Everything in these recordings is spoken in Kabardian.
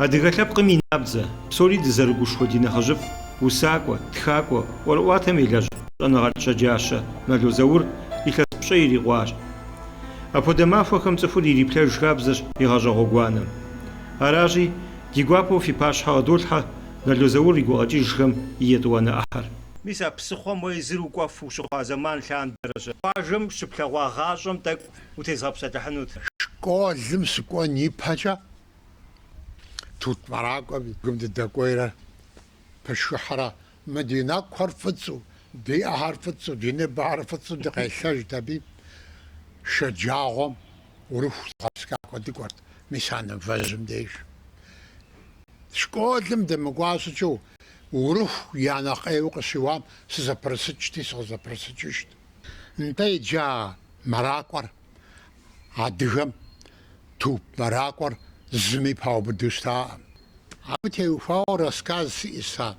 Адыгэ лъэпкъым и набдзэ, псори дызэрыгушхуэ ди нэхъыжьыфӏ, усакӏуэ, тхакӏуэ, ӏуэрыӏуатэм елэжь щӏэныгъэлӏ щэджащэ Нало Заур илъэс пщӏей ирикъуащ. Апхуэдэ махуэхэм цӏыхур ириплъэж хабзэщ и гъащӏэ гъуэгуанэм. Аращи, Ди гуапэу фи пащхьэ къыдолъхьэ Нало Заур и гукъэкӏыжхэм и етӏуанэ ӏыхьэр. Мис а псыхъуэм уэ езыр укӏуэфу ущыхъуа зэман лъандэрэщ. Къуажэм щыплъэгъуа гъащӏэм тӏэкӏу утезгъэпсэлъыхьынут. Школым сыкӏуэн ипэкӏэ тут мэракӏуэм и гум дыдэкӏуейрэ пышхыхьрэ Мы ди нэкӏухэр фӏыцӏу, ди ӏэхэр фӏыцӏу, ди ныбэхэр фӏыцӏу дыкъелъэжт аби. Шэджагъуэм Урыху зыгъэпскӏакӏуэ дыкӏуэрт, мис а нывэжьым деж. Школым дымыкӏуа щӏыкӏэу, Урыху я нэхъ ӏейуэ къыщиуам сызэпрысыкӏти, сыкъызэпрысыкӏыжт. Нтӏэ, иджы а мэракӏуэр, адыгэм тут мэракӏуэр, зыми паубыду щытаӏым. Абы теухуауэ рассказ сиӏэщ сэ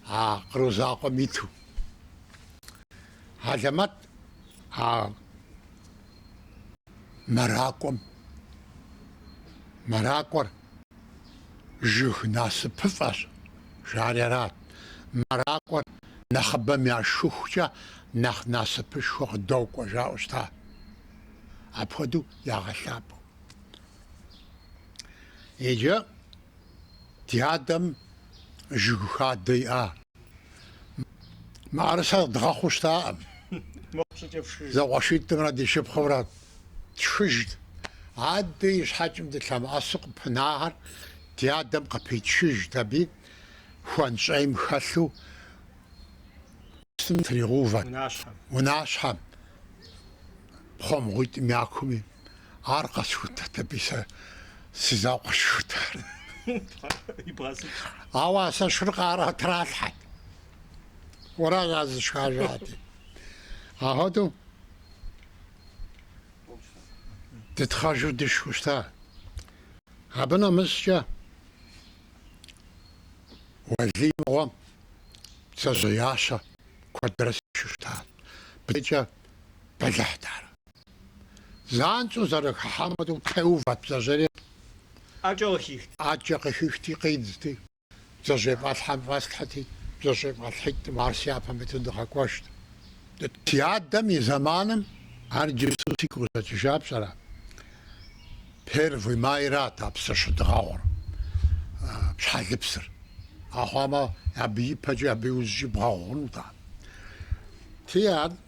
а Къру закъуэм иту. Алэмэт а мэракӏуэм, мэракӏуэр жыг насыпыфӏэщ, жари арат, мэракӏуэр нэхъыбэм яшхыхукӏэ нэхъ насыпышхуэ къыдокӏуэ жаӏэу щыта. Апхуэдэу ягъэлъапӏэу. Иджы ди адэм жыг хадэ иӏа. Мыӏэрысэр дгъэхъуу щытаӏым. Зэкъуэшитӏымрэ ди шыпхъумрэ тшхыжт. Адэ и щхьэкӏэм дылъэмыӏэсу къыпынахэр ди адэм къыпичыжт, аби хуэнщӏейм хэлъу псым тригъэувэрт, унащхьэм, пхъуэмгъуитӏым я куми, Ар къэсхутэт аби сэ си закъуэ сшхырт ар. Ауэ а сэ сшхыр Къарэ тралъхьэт. Уэращ зышхар жати. Ахуэдэу дытхъэжу дышхэу щыта. Абы нэмыщӏкӏэ Уэлий мыгъуэм бдзэжьеящэ куэдрэ сышху щтат. Быдыкӏэ бэлыхьт ар. Занщӏэу зэрыхыхьам хуэдэу теувэт бдзэжьейр. ӏэкӏэ къыхихти, къидзти, бдзэжьей фӏэлъхьэм фӏэслъхьэти, бдзэжьей фӏэлъхьитӏым ар си япэм иту дыкъэкӏуэжт. Си адэм и зэманым ар иджыпсту сигу къыщӏэкӏыжа пщӏэрэ? Первый майрат а псыр щыдгъэгъур, щхьэлыпсыр. Ахъуамэ, абы ипэкӏи абы иужькӏи бгъэгъунут ар. Ти ар.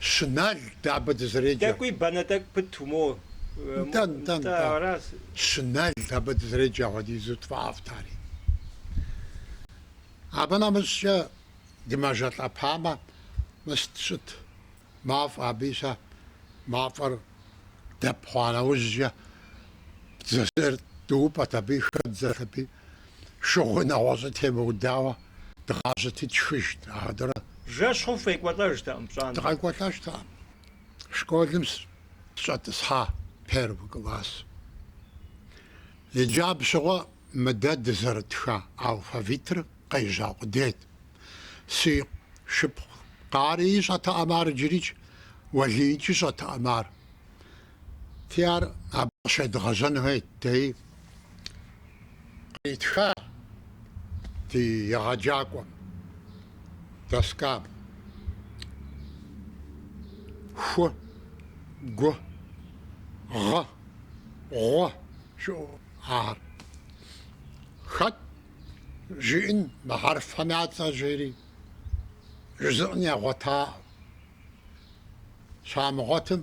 Щынэл, дэ абы дызреджэ. Тӏэкӏуи банэ тӏэкӏу пыту мо. Нтӏэ, нтӏэ, нтӏэ. Щынэл, абы дызреджэ, апхуэдизу тфӏафӏт ари. Абы нэмыщӏкӏэ дымэжэлӏэпамэ, мыст щыт, мафӏэ абы ищӏэ, мафӏэр дэп хъуа нэужькӏэ, бдзэжьейр дыупӏэт аби, хэддзэт аби, шыгъуи нэгъуэщӏи темыудауэ дгъажьэти тшхыжт, ахэ дэрэ. Жэщ хъуху къекӏуэлӏэжтэкъым пщӏантӏэм. Дыкъекӏуэлӏэжтэкъым. Школым сщӏэтӏысхьа первый класс. Иджы абы щыгъуэ мы дэ дызэрытха алфавитыр къежьа къудейт. Си шыпхъу Къарии щӏэтэкъым ар иджырикӏ, Уэлиикӏи щӏэтэкъым ар. Ти ар абы къыщедгъэжьэн хуейт, дей къитха ди егъэджакӏуэм, доскам. Ху, гу, гъы, гъу щыӏэу ахэр. Хэт жиӏэн мы хьэрфхэм я цӏэр жери, жызыӏэн ягъуэтаӏым. Щамыгъуэтым,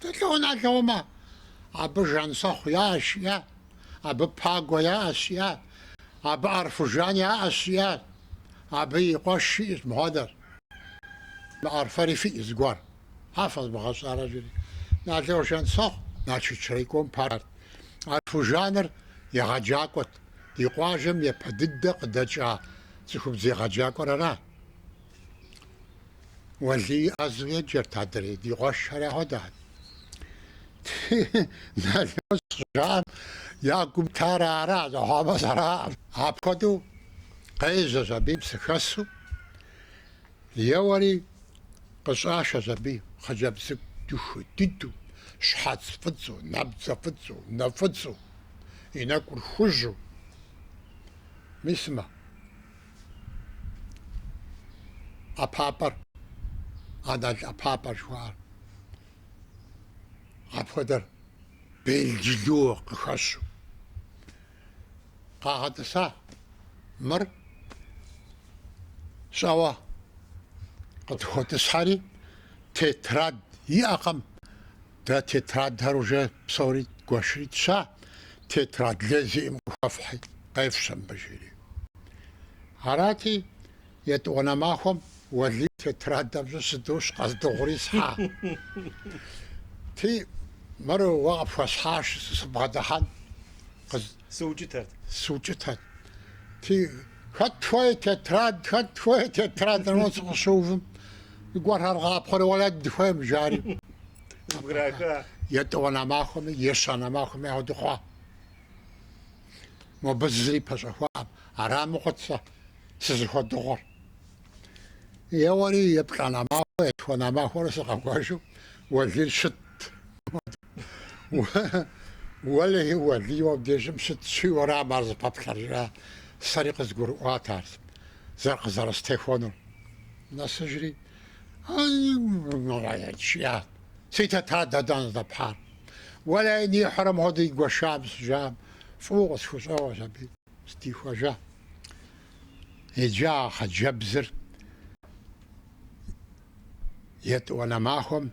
Тӏэ лӏо, Налоумэ, абы Жансэхъу яӏэщ, жиӏа, абы Пагуэ яӏэщ, жиӏа, абы ӏэрфыжан яӏэщ, жиӏа, абы и къуэш щиӏэщ мыхуэдэр. Мы ӏэрфэри фиӏэ зыгуэр, а фэзмыгъэщӏарэ жери. Налоу Жансэхъу Налшыч райком парт. ӏэрфыжаныр егъэджакӏуэт, ди къуажэм япэ дыдэ къыдэкӏа цӏыхубз егъэджакӏуэр арат. Уэлий ӏэзэу еджэрт адрей, ди къуэшхэри хуэдэхэт. Налоу щӏыжаӏэм я гум тар ара, зэхъуамэ зэраӏэм. Апхуэдэу къежьэщ аби псыхэсу, еуэри къыщӏашэщ аби хъыджэбз цӏыкӏу дахэ дыдэу, щхьэц фӏыцӏэу, набдзэ фӏыцӏэу, нэ фӏыцӏэу, и нэкӏур хужьу. Мис сымэ? ӏэпапӏэр, анал ӏэпапӏэр жыхуаӏэр. Апхуэдэр белджылу къыхэщу къагъэтӏыса мыр щӏэуэ къытхуэтӏысхьэри, тетрад иӏэкъым. Дэ тетрадхэр уже псори гуэшри тща, тетрад лей зиӏым къыхуэфхьи, къефщэ мыбы, жери. Арати, етӏуанэ махуэм Уэлий тетрадыр щӏэстырущ къэздыгъури схьа. Атӏэ, мыр уэ къыпхуэсхьащ сыбгъэдыхьэн, къыз. Сыукӏытэрт. Сыукӏытэрт. Ти, хэт хуей тетрад, хэт хуей тетрад жоу сыкъыщыувым. Зыгуэрхэр къапхъуэри уэр дэ дыхуейм, жари. Къыбграха. Етӏуанэ махуэми, ещанэ махуэми ахуэдэу хъуа. Мобы зыри пэщӏэхуакъым. Арам и къуэт сэ сызыхуэдыгъуар. Еуэри еплӏанэ махуэ, етхуанэ махуэрэ сыкъэкӏуэжу Уэлий щытт. Уэлэхьи, Уэлий, абдежым сыт щиӏэурам ар зэпэплъэр? жиӏа. Сэри къызгурыӏуат ар зэрыкъызэрыстехуэнур. Нэсыжри, Ай-й-й-й-й-й-й! жиӏат. Сытэт ар дэдан здэпхьар? Уэлэхьи, нихьыр мыгъуэду игуэшам сыжам, фӏыуэ къысхущӏэгъуэщ абы. Сыдихуэжа. Иджы а хъыджэбзыр етӏуанэ махуэм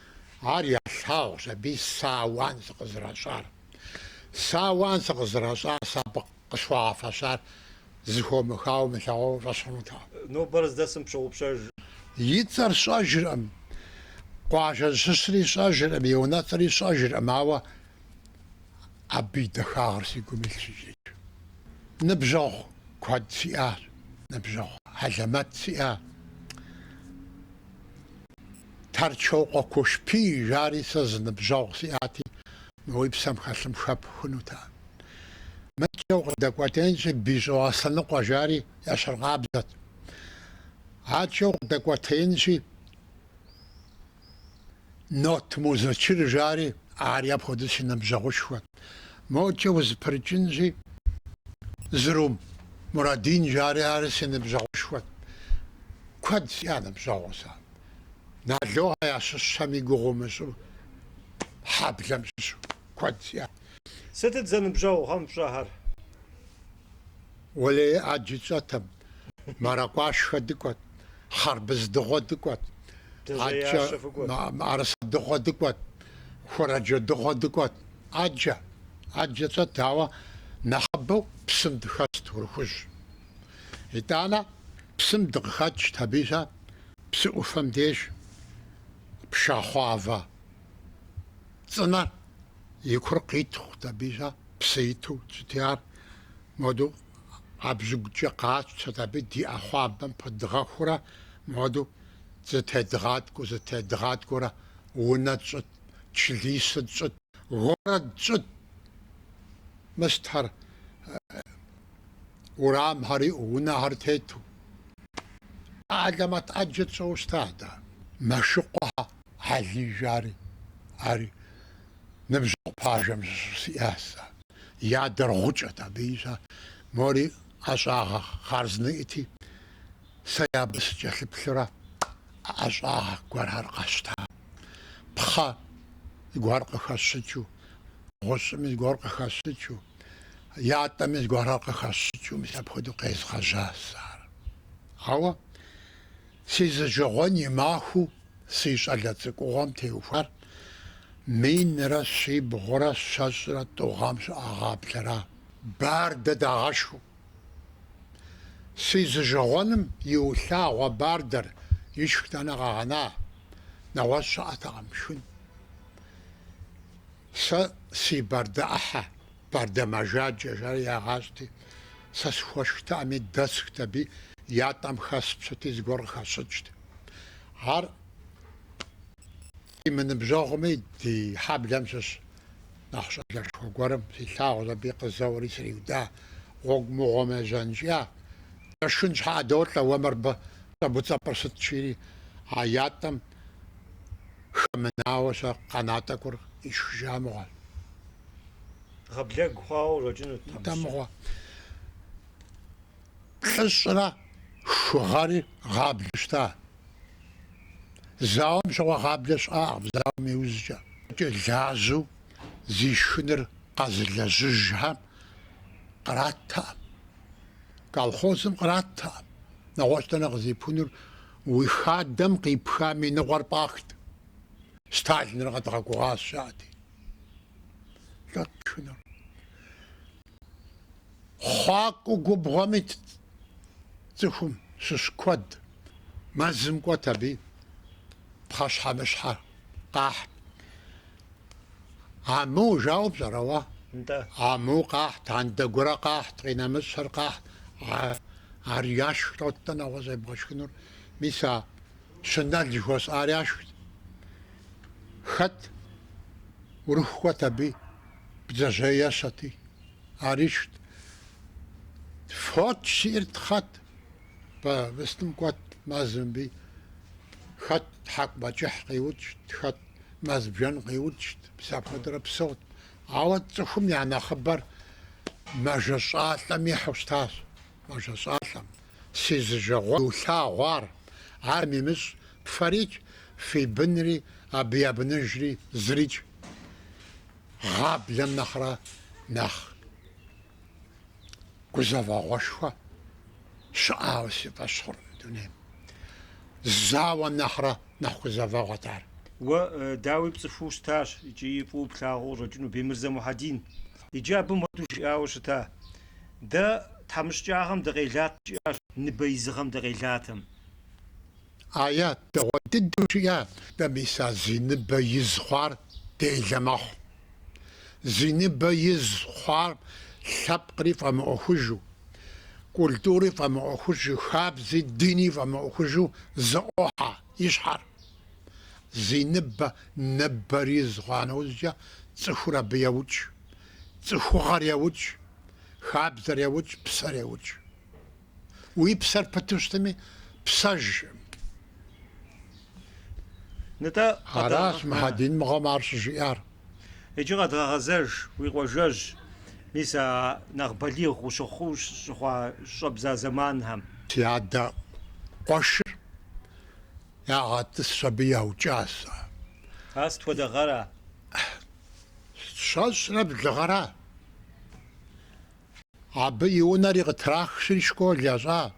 Ар ялъагъущ абы сэ ауан сыкъызэращӏар. Сэ ауан сыкъызэращӏар, сэ абы къысхуагъэфэщар зыхуэмыхауэ мылъэгъуауэ фӏэщхъунутэкъым. Нобэр къыздэсым сщыгъупщэж. И цӏэр сщӏэжыркъым, къуажэ щыщри сщӏэжыркъым, и унэцӏэри сщӏэжыркъым, ауэ абы и дахагъэр си гум илъщ иджыкӏ. Ныбжьэгъу куэд сиӏащ, ныбжьэгъу хьэлэмэт сиӏащ. Торчокъуэ Кушпий жари сэ зы ныбжьэгъу сиӏати, мы уи псэм хэлъым хэпхынут ар. Мыкӏэ укъыдэкӏуэтенщи, Бищӏо Аслъэныкъуэ жари ещхьыркъабзэт. Адкӏэ укъыдэкӏуэтеинщи, Нот Музычыр жари ар апхуэдиз си ныбжьэгъушхуэт. Мокӏэ узыпырыкӏынщи, Зырум Мурадин жари ари си ныбжьэгъушхуэт. Куэд сиӏа ныбжьэгъур сэ. Налохэ ящыщым и гугъу умыщӏу, хьэблэм щыщу куэд сиӏа. Сытыт зэныбжьэгъухэм фщӏэхэр? Уэлей ӏэджэ тщӏэтэм, мэракӏуашхэ дыкӏуэт, хъарбыз дыгъуэ дыкӏуэт, ӏэджэ мыӏэрысэ дыгъуэ дыкӏуэт, хуэрэджэ дыгъуэ дыкӏуэт. ӏэджэ, ӏэджэ тщӏэт, ауэ нэхъыбэу псым дыхэст Урыхужь. Итӏанэ псым дыкъыхэкӏт аби щӏэ псы ӏуфэм деж пшахъуавэ цӏынэр. И кур къиттхъут аби, жа, псы иту щытти ар. Моду ӏэбжьыгукӏэ къатщтэт аби ди ӏэхъуамбэм пыдгъэхуурэ, моду зэтедгъаткӏуэу, зэтедгъаткӏуэурэ унэ тщӏыт, члисэ тщӏыт, город тщӏыт, мостхэр, урамхэр иӏэу, унэхэр тету. Хьэлэмэт ӏэджэ тщӏэуэ щыта дэ. Мэшыкъуэхьэ Хьэли жари. Ар ныбжьэгъу пажэм щыщу сиӏа сэ. И адэр гъукӏэт абы ищӏа. Мори ӏэщӏагъэ хъарзынэ иӏэти, сэ абы сыкӏэлъыплъурэ ӏэщӏагъэ гуэрхэр къэсщта. Пхъэ зыгуэр къыхэсщӏыкӏыу, гъущӏыми зыгуэр къыхэсщӏыкӏыу, ятӏэми зыгуэрхэр къыхэсщӏыкӏыу мис апхуэдэу къезгъэжьа сэ ар. Ауэ. Сызижагъуэн и махуэу си щӏалэ цӏыкӏугъуэм теухуар минрэ щибгъурэ щэщӏрэ тӏу гъэм щыӏа гъаблэра? Бардэ дагъэшхыу. Сызижагъуэным иулъагъуэ бардэр ишх дэнэ къэгъэна? Нэгъуэщӏ щыӏэтэкъым, шхын. Сэ си бардэ ӏыхьэ. Бардэ мэжаджэ жари ягъажьэти, сэ схуэшхтэкъыми, дэсхт аби, ятӏэм хэспщыти зыгуэр къыхэсщӏыкӏт. Ар ди мыныбжьэгъуми, ди хьэблэм щыщ нэхъ щӏалэшхуэ гуэрым силъагъущ, аби къызэуэри сриуда, гъуэгу мыгъуэм ежьэнкӏэ, дэ шхын щхьэӏэ долӏэ, уэ мыр абы щӏэбуцӏэпӏыр сыт жири, а ятӏэм хэмынауэ щэ къэна тӏэкӏур ишхыжа мыгъуэ. Гъаблэгу хъуауэ урокӏынут тэмыщэ. Нтӏэ мыгъуэ. Плӏыщӏрэ хы гъэри гъаблэу щыта. Зауэм щыгъуэ гъаблэ щыӏакъым зауэм иужькӏэ. Кӏэ лажьэу зи шхыныр къэзылэжьыжхэм къраттэкъым. Колхозым къраттэкъым. Нэгъуэщӏ дэнэ къыздипхынур? Уи хадэм къипхам и ныкъуэр пӏахт. Сталиныр къэдгъэгугъащ, жаӏэти. Лӏот тшхынур? Хъуакӏуэ губгъуэм итт цӏыхум щыщ куэд. Мэзым кӏуэт аби, пхъэщхьэмыщхьэ къахьт. Амыу жаӏэу пщӏэрэ уэ? Нтӏэ. Амыу къахьт, андэгурэ къахьт, къинэмыщӏыр къахьт. А, ар яшхт, лӏот-тӏэ нэгъуэщӏ ебгъэшхынур. Мис а щынэл жыхуэсӏар яшхт. Хэт урыху кӏуэт аби, бдзэжьей ещэти, ар ишхт. Фоч зиӏэр, хэт, бэ выстым кӏуэт мэзым аби. Хэт тхьэкӏумэкӏыхь къиукӏт, хэт мэз бжэн къиукӏт, мис апхуэдэурэ псэут. Ауэ цӏыхум я нэхъыбэр мэжэщӏалӏэм ихьу щытащ. Мэжэщӏалӏэм, Си зы жагъуэгъу иулъагъу ар, ар фымыщӏэ, фэрикӏ, фи бынри абы я быныжри зырикӏ. Гъаблэм нэхърэ нэхъ гузэвэгъуэшхуэ щыӏауэ си фӏэщ хъуркъым дунейм. Зауэ нэхърэ нэхъ гузэвэгъуэт ар. Уэ, дауи, пцӏыхуу щытащ икӏи фӏыуэ плъагъуу къыщӏэкӏыну, Бемырзэ Мухьэдин. Иджы абы муэду жиӏауэ щыта, Дэ тхьэмыщкӏагъэм дыкъелат, жиӏащ, ныбэ изыгъэм дыкъелатэм. Ауэ дэгъуэ дыдэу жиӏат. Дэ мис а зи ныбэ из хъуар делэ мэхъу. Зи ныбэ из хъуар лъэпкъри фӏэмыӏуэхужу, культури фӏэмыӏуэхужу, хабзи, дини фӏэмыӏуэхужу зэӏуохьэ и щхьэр. Зи ныбэ ныбэр из хъуа нэужькӏэ цӏыхур абы еукӏ, цӏыхугъэр еукӏ, хабзэр еукӏ, псэр еукӏ. Уи псэр пыту щытми, псэж, жиӏэм. Нтӏэ, къэдгъэгъэ... Аращ Мухьэдин мыгъуэм ар щыжиӏар. Иджы къэдгъэгъэзэж, уи къуажэжь, мис а нэхъ балигъ ущыхъуу щыхъуа щӏэбдза зэманхэм. Си адэ къуэшыр ягъэтӏысщ, абы яукӏащ. А сыт хуэдэ гъэра? Щэщӏрэ блы гъэра. Абы и унэри къытрахри школ ящӏа.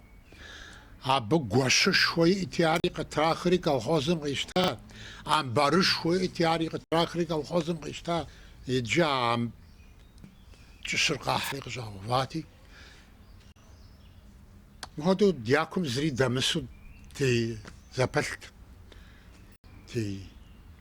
Абы гуэщышхуэ иӏти, ари къытрахри колхозым къищта. Амбарышхуэ иӏти, ари къытрахри колхозым къищта. Иджы а кӏыщыр къахьри къыщӏагъэувати, мыхуэдэу дякум зыри дэмысу дызэпэлът.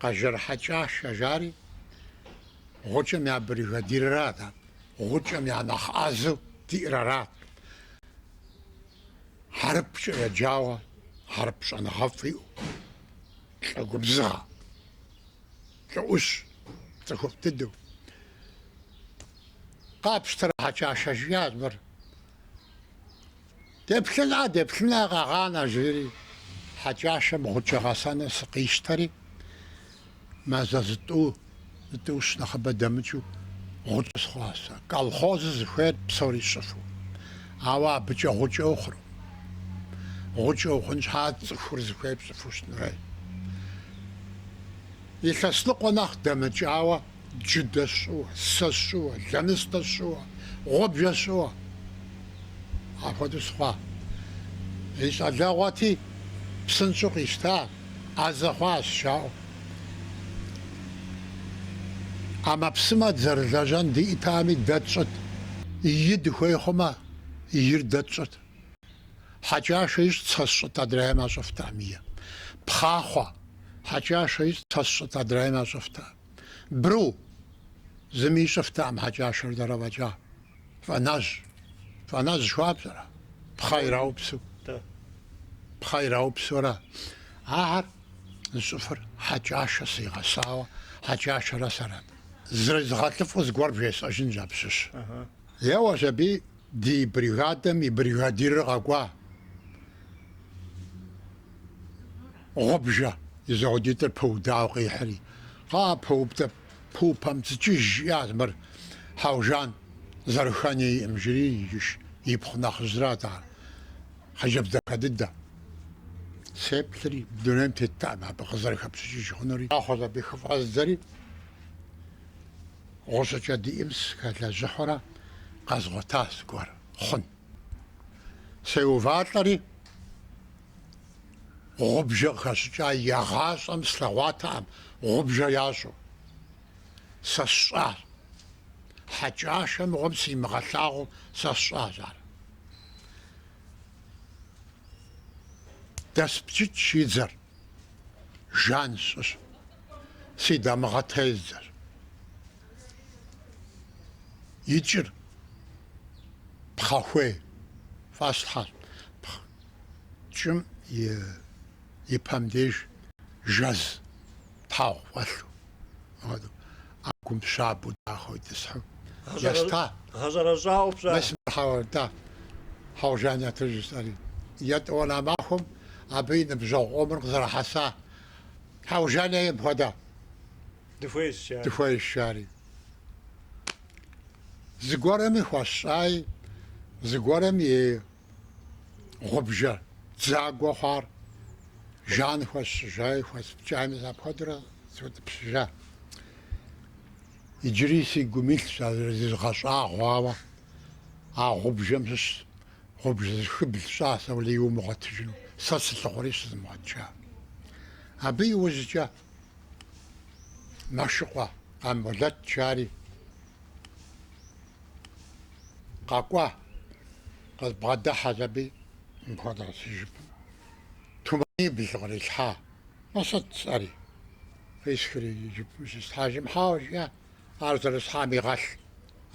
Къэжэр Хьэкӏашэ жари, гъукӏэм я бригадирыр арат, гъукӏэм я нэхъ ӏэзэу диӏэр арат. Хьэрыпкӏэ еджауэ, хьэрып щӏэныгъэфӏ иӏэу, лӏы губзыгъэ, лӏыӏущ, цӏыхуфӏ дыдэу. Къапщтэрэ, Хьэкӏашэ, жиӏащ мыр. Деплъына, деплъына, къэгъанэ, жери Хьэкӏашэм гъукӏэ гъэсэну сыкъищтэри, мазэ зытӏу, зытӏущ нэхъыбэ дэмыкӏыу гъукӏэ сыхъуа сэ. Колхозыр зыхуейр псори сщӏыфу, ауэ абыкӏэ гъукӏэ ухъуркъым. Гъукӏэ ухъун щхьа цӏыхур зыхуейр пщӏыфу щытыну хуей. Илъэс ныкъуэ нэхъ дэмыкӏауэ Джыдэ сщӏыуэ, сэ сщӏыуэ, лэныстэ сщӏыуэ, гъубжэ сщӏыуэ. Апхуэдэу сыхъуа. И щӏалэгъуэти, псынщӏэу къищта, ӏэзэ хъуащ, жаӏэу. ӏэмэпсымэ дызэрылэжьэн диӏэтами, дэ тщӏыт. Ий дыхуей хъумэ, ийр дэ тщӏыт. Хьэкӏашэ ищӏт, сэ сщӏыт, адрейхэм ящӏыфтэкъым ий. Пхъахъуэ. Хьэкӏашэ ищӏт, сэ сщӏыт, адрейхэм ящӏыфтэкъым. Бру! Зыми ищӏыфтэкъым Хьэкӏашэрэ дэрэ фӏэкӏа. Фӏэнэжь! Фӏэнэжь жыхуаӏэ пщӏэрэ? Пхъэ ираупсу. Пхъэ ираупсурэ. Ахэр зыщӏыфыр Хьэкӏашэ сигъэсауэ, Хьэкӏашэрэ сэрэт. Зрезгъэлӏыфӏу зыгуэр бжесӏэжынщ абы щыщ. Еуэщ аби, ди бригадэм и бригадирыр къэкӏуа. Гъубжэ и зэхуэдитӏыр пыудауэ къихьри. Кхъыӏэ, пыуптэп, пыупэм цӏыкӏыж, жиӏащ мыр. Хьэужан, зэрыхэн иӏэкъым, жери, иджы ипхъу нэхъыжьрат ар. Хъыджэбз дахэ дыдэ. Сеплъри, дунейм теттэкъым абы къызэрыхэпщӏыкӏыж хъунури. Еуэщ аби, хыфӏэздзэри, гъущӏыкӏэ диӏэм сыхэлэжьыхьурэ къэзгъуэтащ зыгуэр хъун. Сеувалӏэри. Гъубжэ къыхэсщӏыкӏа, игъащӏэм слъэгъуатэкъым гъубжэ ящӏу. Сэ сщӏащ. Хьэкӏашэ мыгъуэм симыгъэлъагъуу сэ сщӏащ ар. Дэспчыкӏ и дзэр. Жан сщӏыщ. Си дамыгъэ тездзэщ. И кӏыр пхъэхуей фӏэслъхьэщ. кӏым и пэм деж жэз тхьэгъу фӏэлъу, ӏэгум щабэу дахэу итӏысхьу еста. Гъэщӏэрэщӏа ӏупщӏа? Мис мыр хьыт, Хьэужан ет, жысӏэри. Етӏуанэ махуэм абы и ныбжьэгъу къомыр къызэрыхьэса, Хьэужан ейм хуэдэ дыхуейщ, жари. Зыгуэрми хуэсщӏаи, зыгуэрым и. гъубжэ дзагуэ хъуар жан хуэсщӏыжаи хуэспкӏами сэ апхуэдэурэ сыутӏыпщыжа. Иджыри си гум илъщ а зэзгъэщӏэгъуауэ а гъубжэм щыщ гъубжэ зыхыбл сщӏа сэ уэлей умыгъуэтыжыну, сэ сылъыхъуэри щызымыгъуэтыжа. Абы иужькӏэ Мэшыкъуэ Къамболэт жари къэкӏуа, къызбгъэдыхьэщ абы мыпхуэдэу си жыпым туманибл кърилъхьа. Мы сыт, сӏэри. Къисхри и жыпым щислъхьэжым, Хьэуэ, жиӏэ. ар зэрислъхьам игъэлъ.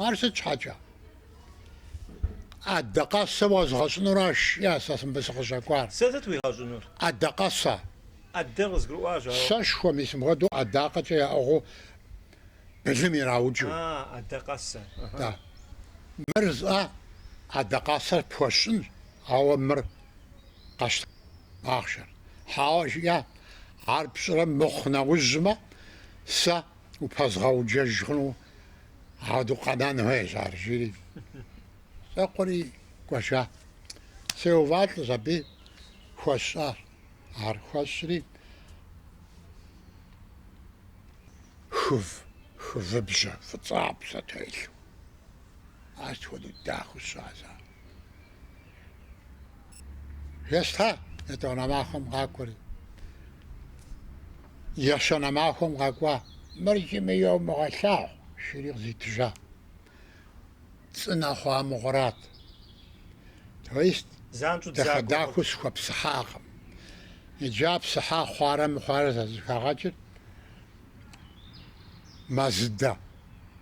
Ар сыт щхьэкӏэ? ӏэдакъэсэ уэзгъэщӏынуращ, жиӏэ сэ мыбы сыкъыщӏэкӏуар. Сэ сыт уигъэщӏынур? ӏэдакъэсэ. ӏэдэр къызгурыӏуащ, ауэ. Сэшхуэ мис мыпхуэдэу ӏэдакъэкӏэ яӏыгъыу былым ираукӏыу. А, ӏэдакъэсэ. Да. Мыр зӏэ ӏэдакъэсэр пхуэсщӏынщ, ауэ мыр къэщтэж ахъшэр. Хьэуэ, жиӏэ, ар пщӏырэ мыхъу нэужьмэ, сэ. Упэзгъэуджэж хъуну ауэдэу къэнэн хуейщ ар, жири. Щӏэкӏри кӏуэжа. Сеувалӏэщ абы хуэсщӏащ. Ар хуэсщӏри хыв, хывыбжьэ фӏыцӏапсэ телъу. Ар сыт хуэдэу дахэу сщӏащ ар. Еста етӏуанэ махуэм къакӏуэри, ещанэ махуэм къэкӏуа. Мыр зыми йомыгъэлъагъу, жири къызитыжа. Цӏынэ хъуа мыгъуэрат. То есть дахэ-дахэу схуэпсыхьакъым. Иджы а псыхьа хъуарэ мыхъуарэ зэзэхагъэкӏыр мэзыдэ.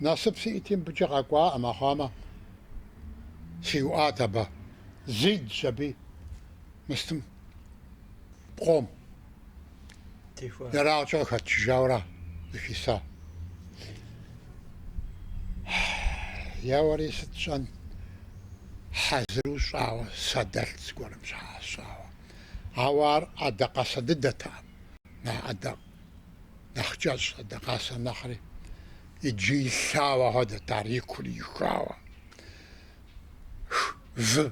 Насып сиӏти, мыбыкӏэ къэкӏуаӏым, армыхъуамэ, сиуӏат абы. Зидзщ аби мыстым пкъом ерагъкӏэ къыхэтчыжауэра зыхиса. Еуэри сыт сщӏэн, хьэзыру щӏауэ сэ дэлът зыгуэрым щхьэкӏэ сщӏауэ. Ауэ ар ӏэдакъэсэ дыдэтэкъым, нэхъ ӏэдакъ Нэхъ кӏэщӏщ ӏэдакъэсэ нэхъри. Иджы илъауэ хуэдэт ар и кур ихауэ. Вы,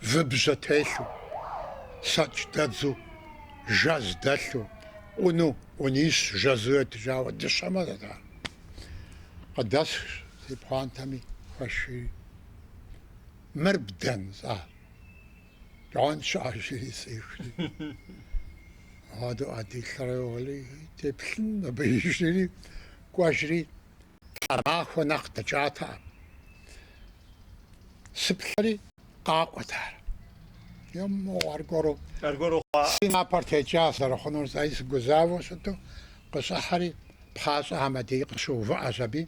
вы бжьэ телъу, сэкӏ дэдзу, жэз дэлъу, ӏуну, ӏунищ жэзу етыжауэ дыщэм хуэдэт ар. Къыдэсхщ си пхъуантэми, хуэсшийри. Мыр бдэн, сӏа? Кӏуан щажьэри сехри. Адо адилъэрэ уэли теплъын абы ижри кӏуэжри тхьэмахуэ нэхъ дэкӏатэкъым. Сыплъэри къакӏуэт ар. Еммогъу аргуэру. Аргуэру хъуа. Си напэр текӏа зэрыхъунур зэи сыгузавэу щыту къыщӏыхьэри пхъащӏэ Ахьмэд къыщыувыӏэщ аби.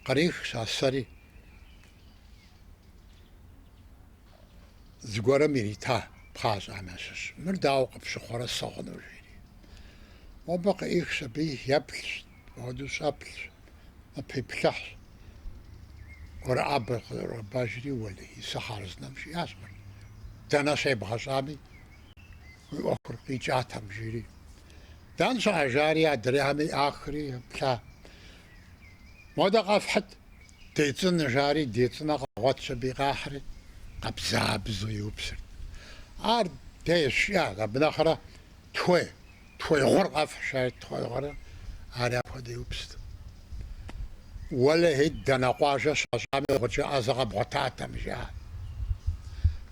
Кърихщ а сэри. Зыгуэрым ирита пхъащӏэхэм ящыщ. Мыр дауэ къыпщыхъурэ сыгъыну? жери. Мобы къыӏихщ, абы еплъщ, ауэдэу щӏэплъщ, ныпиплъыхьщ. ӏуэрыӏабэр къызэрогъэбажри, уэлэхьи, сэ хъарзынэм жиӏащ мыр. Дэнэ щебгъэщӏами, уи ӏуэхур къикӏатэм, жери. Дэнэ щыӏэ, жари, адрейхэми ӏахри еплъа. Модэ къэфхьыт, децӏынэ, жари, децӏынэ къагъуэтщ аби къахьри, къабзабзэу иупсырт. Ар дейщ, жиӏэт, абы нэхърэ тхуей, тхуей гъур къэфхь, жари тхуей гъури, ари апхуэдэу иупсырт. Уэлэхьи, дэнэ къуажэ щащӏами, гъукӏэ ӏэзэ къэбгъуэтатэм, жаӏэрт.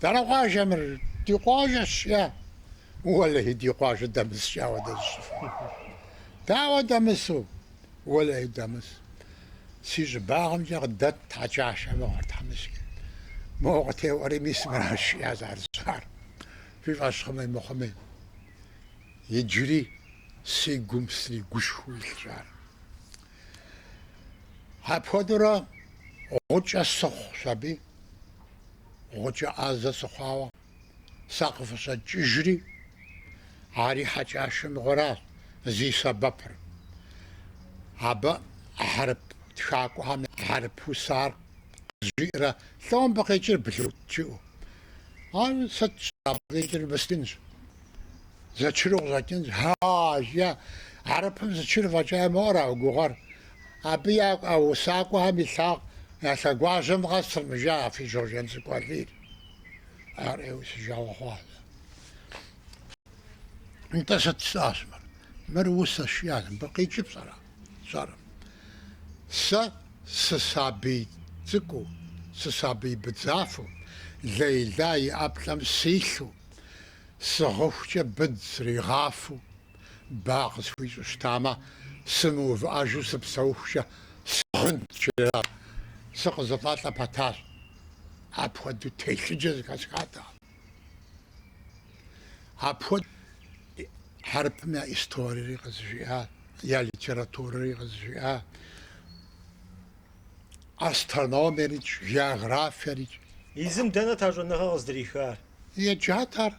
Дэнэ къуажэ мыр? Ди къуажэ щӏыӏэ? Уэлэхьи, ди къуажэ дэмыскӏэ ауэдэ зыщӏыфыну. Дауэ дэмысу? Уэлэхьи, дэмыс, си щӏыбагъымкӏэ къыдэт Хьэкӏашэ мыгъуэр тхьэмыщкӏэ. Моуэ къытеуӏуэри, мис мыращ жиӏащ ар зыщӏар, фи фӏэщ хъуми мыхъуми. Иджыри си гум сригушхуэу илъщ ар. Апхуэдэурэ гъукӏэ сыхъущ аби, гъукӏэ ӏэзэ сыхъуауэ. Сэ къыфыщӏэкӏыжри, ари Хьэкӏашэ мыгъуэращ зи сэбэпыр. Абы хьэрып тхакӏуэхэм я хьэрып усар къызжиӏэрэ лӏо мыбы къикӏыр блут жыӏэу. Ар сыт щыгъуи абы къикӏыр мыскынщ, зэчыру къыщӏэкӏынщ. Ха-а, жи, хьэрыпым зэчыр фӏэкӏа имыӏэу ара уи гугъэр? Абы я усакӏуэхэм и лъэгу, я лъэгуажьэм къэсырым, жиӏа, фи Щоджэнцӏыкӏу Алийр. Ар, уей, си жагъуэ хъуар. Нтӏэ сыт жысӏащ мыр? Мыр усэщ, жиӏащ, мыбы къикӏыр пщӏэрэ? Сщӏэрым. Сэ сысабий цӏыкӏуу, сысабий быдзафэу, Лейла и ӏэплӏэм силъу, сыгъыхукӏэ быдз сригъафэу, ба къысхуищӏу щытамэ, сымыувыӏэжу сыпсэухукӏэ сыгъынт, жиӏэу сыкъызэфӏэлӏэ пэтащ. Апхуэдэу телъыджэ зэхэсхатэкъым. Апхуэдэу хьэрыпым я историри къызжиӏат, я литературэри къызжиӏат, астрономиерикӏ, географиерикӏ. Езым дэнэт а щӏэныгъэр къыздырихар? Еджат ар.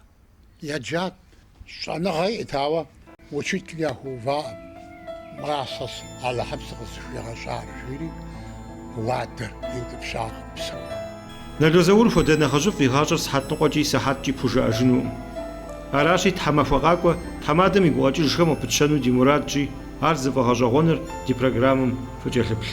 Еджат, щӏэныгъэ иӏэт, ауэ учитель яхуэуваӏым, Мыращ Алыхьым сыкъызыхуигъэщӏар, жиӏэри уадэр иутӏыпщакъым псэуху. Нало Заур хуэдэ нэхъыжьыфӏ и гъащӏэр сыхьэт ныкъуэкӏи сыхьэткӏи пхужыӏэжынукъым. Аращи, тхьэмахуэ къакӏуэ, тхьэмадэм и гукъэкӏыжхэм къыпытщэну ди мурадщи, ар зыфӏэгъэщӏэгъуэныр ди программэм фыкӏэлъыплъ.